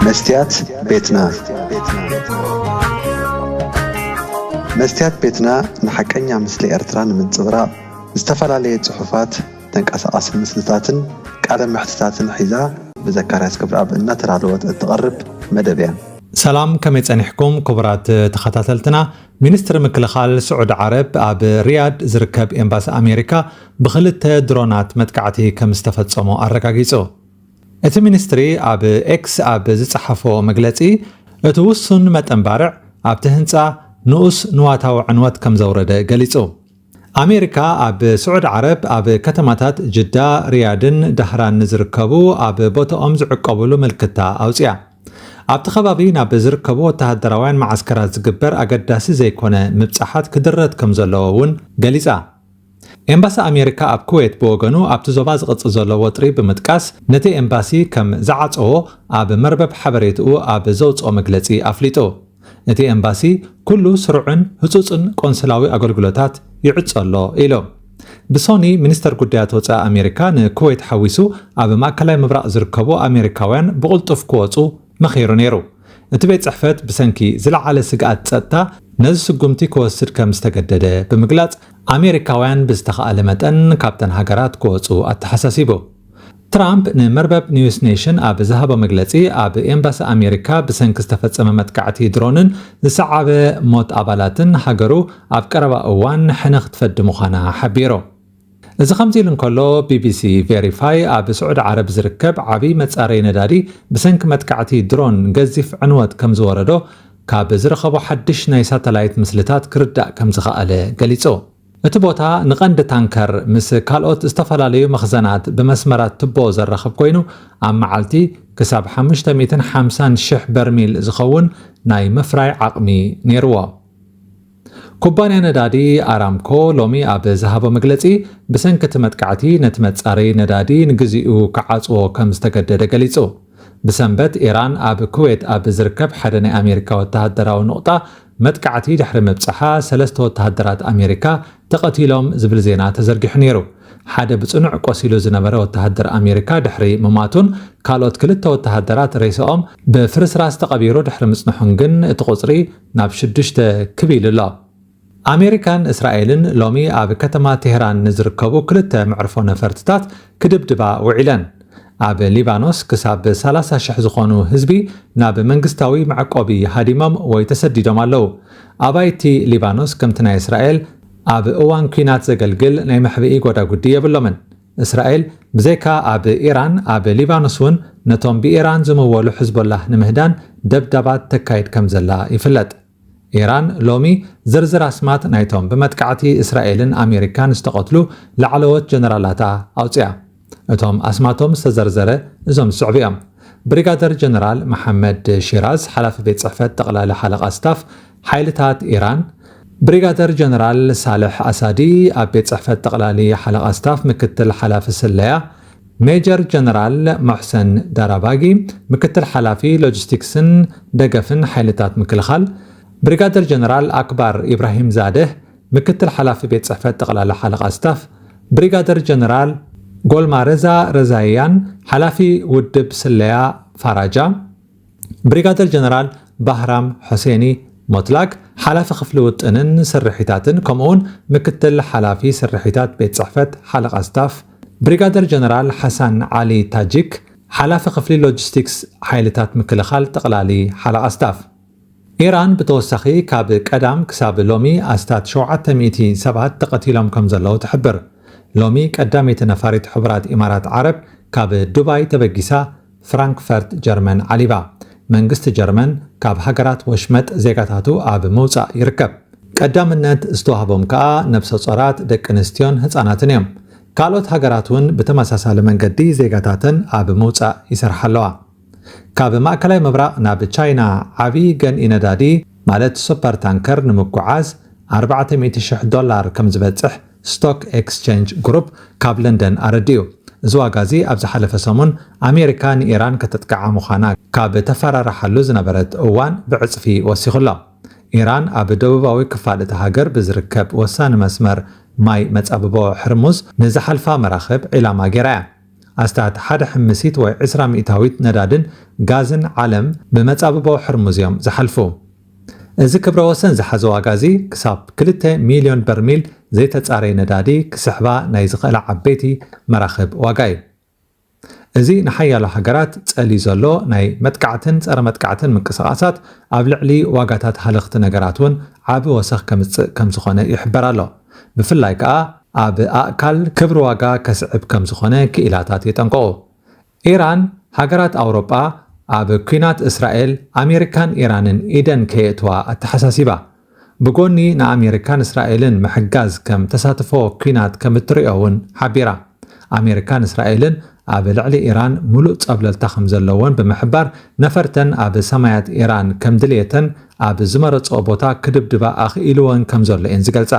መስትያት ቤትና መስትያት ቤትና ንሓቀኛ ምስሊ ኤርትራ ንምንጽብራቕ ዝተፈላለየ ጽሑፋት፣ ተንቀሳቓሲ ምስልታትን ቃለ መሕትታትን ሒዛ ብዘካርያስ ገብረኣብ እናተዳለወት እትቐርብ መደብ እያ። ሰላም ከመይ ጸኒሕኩም ክቡራት ተኸታተልትና። ሚኒስትሪ ምክልኻል ስዑዲ ዓረብ ኣብ ሪያድ ዝርከብ ኤምባሲ ኣሜሪካ ብኽልተ ድሮናት መጥቃዕቲ ከም ዝተፈጸሞ ኣረጋጊጹ። እቲ ሚኒስትሪ ኣብ ኤክስ ኣብ ዝጸሓፎ መግለጺ፣ እቲ ውሱን መጠን ባርዕ ኣብቲ ህንጻ ንኡስ ንዋታዊ ዕንወት ከም ዘውረደ ገሊጹ። ኣሜሪካ ኣብ ስዑድ ዓረብ ኣብ ከተማታት ጅዳ፣ ሪያድን ዳህራን ንዝርከቡ ኣብ ቦታኦም ዝዕቆቡሉ ምልክታ ኣውጺኣ። ኣብቲ ከባቢ ናብ ዝርከቡ ወተሃደራውያን መዓስከራት ዝግበር ኣገዳሲ ዘይኮነ ምብጻሓት ክድረት ከም ዘለዎ እውን ገሊጻ። ኤምባሲ ኣሜሪካ ኣብ ኩዌት ብወገኑ ኣብቲ ዞባ ዝቕጽል ዘሎ ወጥሪ ብምጥቃስ ነቲ ኤምባሲ ከም ዝዓጸዎ ኣብ መርበብ ሓበሬትኡ ኣብ ዘውጽኦ መግለጺ ኣፍሊጡ። እቲ ኤምባሲ ኩሉ ስሩዕን ህጹጽን ቆንስላዊ ኣገልግሎታት ይዕጾ ኣሎ ኢሉ። ብሶኒ ሚኒስተር ጉዳያት ወጻኢ ኣሜሪካ ንኩዌት ሓዊሱ ኣብ ማእከላይ ምብራቕ ዝርከቡ ኣሜሪካውያን ብቕልጡፍ ክወጹ መኺሩ ነይሩ። እቲ ቤት ጽሕፈት ብሰንኪ ዝለዓለ ስግኣት ጸጥታ ነዚ ስጉምቲ ክወስድ ከም ዝተገደደ ብምግላጽ ኣሜሪካውያን ብዝተኻእለ መጠን ካብተን ሃገራት ክወጹ ኣተሓሳሲቡ። ትራምፕ ንመርበብ ኒውስ ኔሽን ኣብ ዝሃቦ መግለጺ፣ ኣብ ኤምባሲ ኣሜሪካ ብሰንኪ ዝተፈጸመ መጥቃዕቲ ድሮንን ዝሰዓበ ሞት ኣባላትን ሃገሩ ኣብ ቀረባ እዋን ሕነ ክትፈዲ ምዃና ሓቢሩ። እዚ ከምዚ ኢሉ እንከሎ፣ ቢቢሲ ቬሪፋይ ኣብ ስዑዲ ዓረብ ዝርከብ ዓብዪ መጻረዪ ነዳዲ ብሰንኪ መጥቃዕቲ ድሮን ገዚፍ ዕንወት ከምዝወረዶ ካብ ዝረኸቦ ሓድሽ ናይ ሳተላይት ምስልታት ክርዳእ ከምዝኸኣለ ገሊጹ። እቲ ቦታ ንቀንዲ ታንከር ምስ ካልኦት ዝተፈላለዩ መኽዘናት ብመስመራት ትቦ ዘራኽብ ኮይኑ፣ ኣብ መዓልቲ ክሳብ ሓሙሽተ ሚእትን ሓምሳን ሽሕ በርሚል ዝኸውን ናይ ምፍራይ ዓቕሚ ነይርዎ። ኩባንያ ነዳዲ ኣራምኮ ሎሚ ኣብ ዝሃቦ መግለጺ፣ ብሰንኪ እቲ መጥቃዕቲ ነቲ መጻረዪ ነዳዲ ንግዚኡ ክዓጽዎ ከም ዝተገደደ ገሊጹ። ብሰንበት ኢራን ኣብ ኩዌት ኣብ ዝርከብ ሓደ ናይ ኣሜሪካ ወተሃደራዊ ኑቕጣ መጥቃዕቲ ድሕሪ ምብጻሓ ሰለስተ ወተሃደራት ኣሜሪካ ተቐቲሎም ዝብል ዜና ተዘርጊሑ ነይሩ። ሓደ ብጽኑዕ ቆሲሉ ዝነበረ ወተሃደር ኣሜሪካ ድሕሪ ምሟቱን ካልኦት ክልተ ወተሃደራት ሬሳኦም ብፍርስራስ ተቐቢሩ ድሕሪ ምጽንሑን ግን እቲ ቁጽሪ ናብ ሽዱሽተ ክብ ኢሉ ኣሎ። ኣሜሪካን እስራኤልን ሎሚ ኣብ ከተማ ቴህራን ንዝርከቡ ክልተ መዕርፎ ነፈርትታት ክድብድባ ውዒለን። ኣብ ሊባኖስ ክሳብ ሰላሳ ሽሕ ዝኾኑ ህዝቢ ናብ መንግስታዊ መዕቆቢ ሃዲሞም ወይ ተሰዲዶም ኣለዉ። ኣባይቲ ሊባኖስ ከምቲ ናይ እስራኤል ኣብ እዋን ኲናት ዘገልግል ናይ መሕብኢ ጎዳጉዲ የብሎምን። እስራኤል ብዘይካ ኣብ ኢራን ኣብ ሊባኖስ እውን ነቶም ብኢራን ዝምወሉ ሕዝቦላህ ንምህዳን ደብዳባት ተካይድ ከምዘላ ይፍለጥ። ኢራን ሎሚ ዝርዝር ኣስማት ናይቶም ብመጥቃዕቲ እስራኤልን ኣሜሪካን ዝተቐትሉ ላዕለዎት ጀነራላታ ኣውጺኣ። እቶም ኣስማቶም ዝተዘርዘረ እዞም ዝስዕቡ እዮም። ብሪጋደር ጀነራል መሓመድ ሺራዝ ሓላፊ ቤት ጽሕፈት ጠቕላሊ ሓለቓ ስታፍ፣ ሓይልታት ኢራን፣ ብሪጋደር ጀነራል ሳልሕ ኣሳዲ ኣብ ቤት ጽሕፈት ጠቕላሊ ሓለቓ ስታፍ ምክትል ሓላፊ ስለያ፣ ሜጀር ጀነራል ሞሕሰን ዳራባጊ፣ ምክትል ሓላፊ ሎጂስቲክስን ደገፍን ሓይልታት ምክልኻል፣ ብሪጋደር ጀነራል ኣክባር ኢብራሂምዛደህ፣ ምክትል ሓላፊ ቤት ጽሕፈት ጠቕላሊ ሓለቓ ስታፍ፣ ብሪጋደር ጀነራል ጎልማረዛ ረዛይያን፣ ሓላፊ ውድብ ስለያ ፋራጃ፣ ብሪጋደር ጀነራል ባህራም ሑሴኒ ሞትላክ ሓላፊ ክፍሊ ውጥንን ስርሒታትን ከምኡ'ውን ምክትል ሓላፊ ስርሒታት ቤት ጽሕፈት ሓለቓ ስታፍ፣ ብሪጋደር ጀነራል ሓሳን ዓሊ ታጂክ ሓላፊ ክፍሊ ሎጂስቲክስ ሓይልታት ምክልኻል ጠቕላሊ ሓለቓ ስታፍ። ኢራን ብተወሳኺ ካብ ቀዳም ክሳብ ሎሚ ኣስታት ሸውዓተ ሚእቲ ሰባት ተቐቲሎም ከምዘለዉ ትሕብር። ሎሚ ቀዳመይቲ ነፋሪት ሕቡራት ኢማራት ዓረብ ካብ ዱባይ ተበጊሳ ፍራንክፈርት ጀርመን ዓሊባ። መንግስቲ ጀርመን ካብ ሃገራት ወሽመጥ ዜጋታቱ ኣብ ምውጻእ ይርከብ። ቀዳምነት ዝተዋህቦም ከኣ ነብሰጾራት፣ ደቂ ኣንስትዮን ህጻናትን እዮም። ካልኦት ሃገራት እውን ብተመሳሳሊ መንገዲ ዜጋታተን ኣብ ምውጻእ ይሰርሓ ኣለዋ። ካብ ማእከላይ ምብራቕ ናብ ቻይና ዓቢ ገንኢ ነዳዲ ማለት ሱፐር ታንከር ንምጉዓዝ ኣርባዕተ ሚእቲ ሽሕ ዶላር ከምዝበጽሕ ስቶክ ኤክስቼንጅ ግሩፕ ካብ ለንደን ኣረዲኡ። እዚ ዋጋ'ዚ ኣብ ዝሓለፈ ሰሙን ኣሜሪካ ንኢራን ከተጥቅዓ ምዃና ካብ እተፈራርሓሉ ዝነበረት እዋን ብዕጽፊ ወሲኹ ኣሎ። ኢራን ኣብ ደቡባዊ ክፋል እታ ሃገር ብዝርከብ ወሳኒ መስመር ማይ መጻብቦ ሕርሙዝ ንዝሓልፋ መራኽብ ዒላማ ገይራ'ያ። ኣስታት ሓደ ሕምሲት ወይ ዕስራ ሚእታዊት ነዳድን ጋዝን ዓለም ብመጻብቦ ሕርሙዝ'ዮም ዝሓልፉ። እዚ ክብረ ወሰን ዝሓዘ ዋጋ እዚ ክሳብ ክልተ ሚልዮን በርሚል ዘይተጻረየ ነዳዲ ክስሕባ ናይ ዝኽእላ ዓበይቲ መራኽብ ዋጋ እዩ። እዚ ንሓያሎ ሃገራት ጸልዩ ዘሎ ናይ መጥቃዕትን ጸረ-መጥቃዕትን ምንቅስቓሳት ኣብ ልዕሊ ዋጋታት ሃለኽቲ ነገራት እውን ዓቢ ወሰኽ ከምጽእ ከም ዝኾነ ይሕበር ኣሎ። ብፍላይ ከኣ ኣብ ኣእካል ክብሪ ዋጋ ከስዕብ ከም ዝኾነ ክኢላታት የጠንቅቑ። ኢራን፣ ሃገራት ኣውሮጳ ኣብ ኲናት እስራኤል፣ ኣሜሪካን ኢራንን ኢደን ከየእትዋ ኣተሓሳሲባ። ብጎኒ ንኣሜሪካን እስራኤልን ምሕጋዝ ከም ተሳትፎ ኲናት ከም እትርእዮ'ውን ሓቢራ። ኣሜሪካን እስራኤልን ኣብ ልዕሊ ኢራን ምሉእ ጸብለልታ ከም ዘለወን ብምሕባር፣ ነፈርተን ኣብ ሰማያት ኢራን ከም ድልየተን ኣብ ዝመረጽኦ ቦታ ክድብድባ ኣኽኢልወን ከም ዘሎ'የን ዝገልጻ።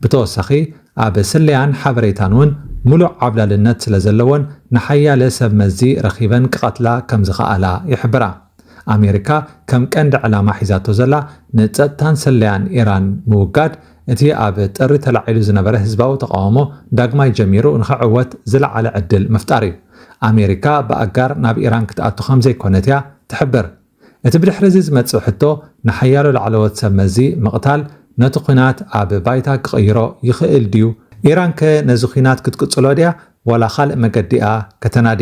ብተወሳኺ ኣብ ስለያን ሓበሬታን እውን ምሉእ ዓብላልነት ስለዘለወን ንሓያለ ሰብ መዚ ረኺበን ክቐትላ ከምዝኸኣላ ይሕብራ። ኣሜሪካ ከም ቀንዲ ዕላማ ሒዛቶ ዘላ ንጸጥታን ስለያን ኢራን ምውጋድ እቲ ኣብ ጥሪ ተላዒሉ ዝነበረ ህዝባዊ ተቓውሞ ዳግማይ ጀሚሩ ንኽዕወት ዝለዓለ ዕድል ምፍጣር እዩ። ኣሜሪካ ብኣጋር ናብ ኢራን ክትኣቱ ከምዘይኮነት እያ ትሕብር። እቲ ብድሕሪ'ዚ ዝመጽእ ሕቶ፣ ንሓያሎ ላዕለዎት ሰብ መዚ ምቕታል ነቲ ኲናት ኣብ ባይታ ክቕይሮ ይኽእል ድዩ? ኢራንከ ነዚ ኲናት ክትቅጽሎ ድያ ዋላ ካልእ መገዲ'ያ ከተናዲ?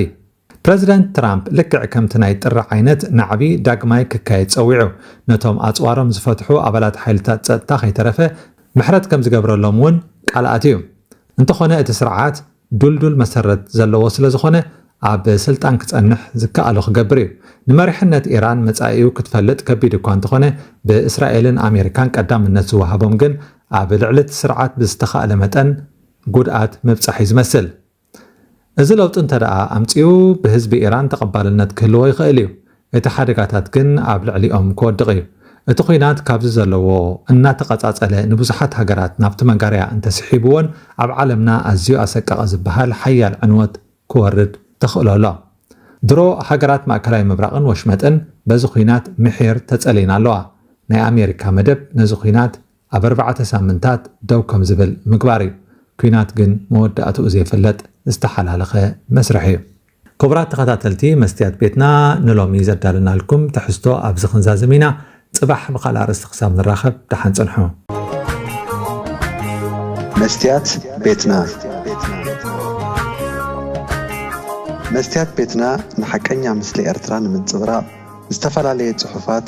ፕረዚደንት ትራምፕ ልክዕ ከምቲ ናይ ጥሪ ዓይነት ናዕቢ ዳግማይ ክካየድ ጸዊዑ፣ ነቶም ኣጽዋሮም ዝፈትሑ ኣባላት ሓይልታት ጸጥታ ከይተረፈ ምሕረት ከምዝገብረሎም'ውን ቃል ኣትዩ። እንተዀነ እቲ ስርዓት፣ ድልዱል መሰረት ዘለዎ ስለዝኾነ ኣብ ስልጣን ክጸንሕ ዝከኣሎ ክገብር እዩ። ንመሪሕነት ኢራን መጻኢኡ ክትፈልጥ ከቢድ እኳ እንተኾነ ብእስራኤልን ኣሜሪካን ቀዳምነት ዝወሃቦም ግን ኣብ ልዕሊ'ቲ ስርዓት ብዝተኻእለ መጠን ጉድኣት ምብጻሕ'ዩ ዝመስል። እዚ ለውጢ እንተደኣ ኣምጺኡ ብህዝቢ ኢራን ተቐባልነት ክህልዎ ይኽእል'ዩ። እቲ ሓደጋታት ግን ኣብ ልዕሊኦም ክወድቕ እዩ። እቲ ኹናት ካብዚ ዘለዎ እናተቐጻጸለ ንብዙሓት ሃገራት ናብቲ መጋርያ እንተስሒብዎን ኣብ ዓለምና ኣዝዩ ኣሰቃቒ ዝበሃል ሓያል ዕንወት ክወርድ ተኽእሎ ኣሎ። ድሮ ሃገራት ማእከላይ ምብራቕን ወሽመጥን በዚ ኹናት ምሒር ተጸልየን ኣለዋ። ናይ ኣሜሪካ መደብ ነዚ ኹናት ኣብ ኣርባዕተ ሳምንታት ደው ከም ዝብል ምግባር እዩ። ኲናት ግን መወዳእትኡ ዘይፍለጥ ዝተሓላለኸ መስርሕ እዩ። ክቡራት ተኸታተልቲ መስትያት ቤትና ንሎሚ ዘዳለናልኩም ትሕዝቶ ኣብዚ ክንዛዝም ኢና። ጽባሕ ብኻልእ ኣርእስቲ ክሳብ ንራኸብ ደሓን ጽንሑ። መስትያት ቤትና መስትያት ቤትና ንሓቀኛ ምስሊ ኤርትራ ንምንጽብራቕ ዝተፈላለየ ጽሑፋት፣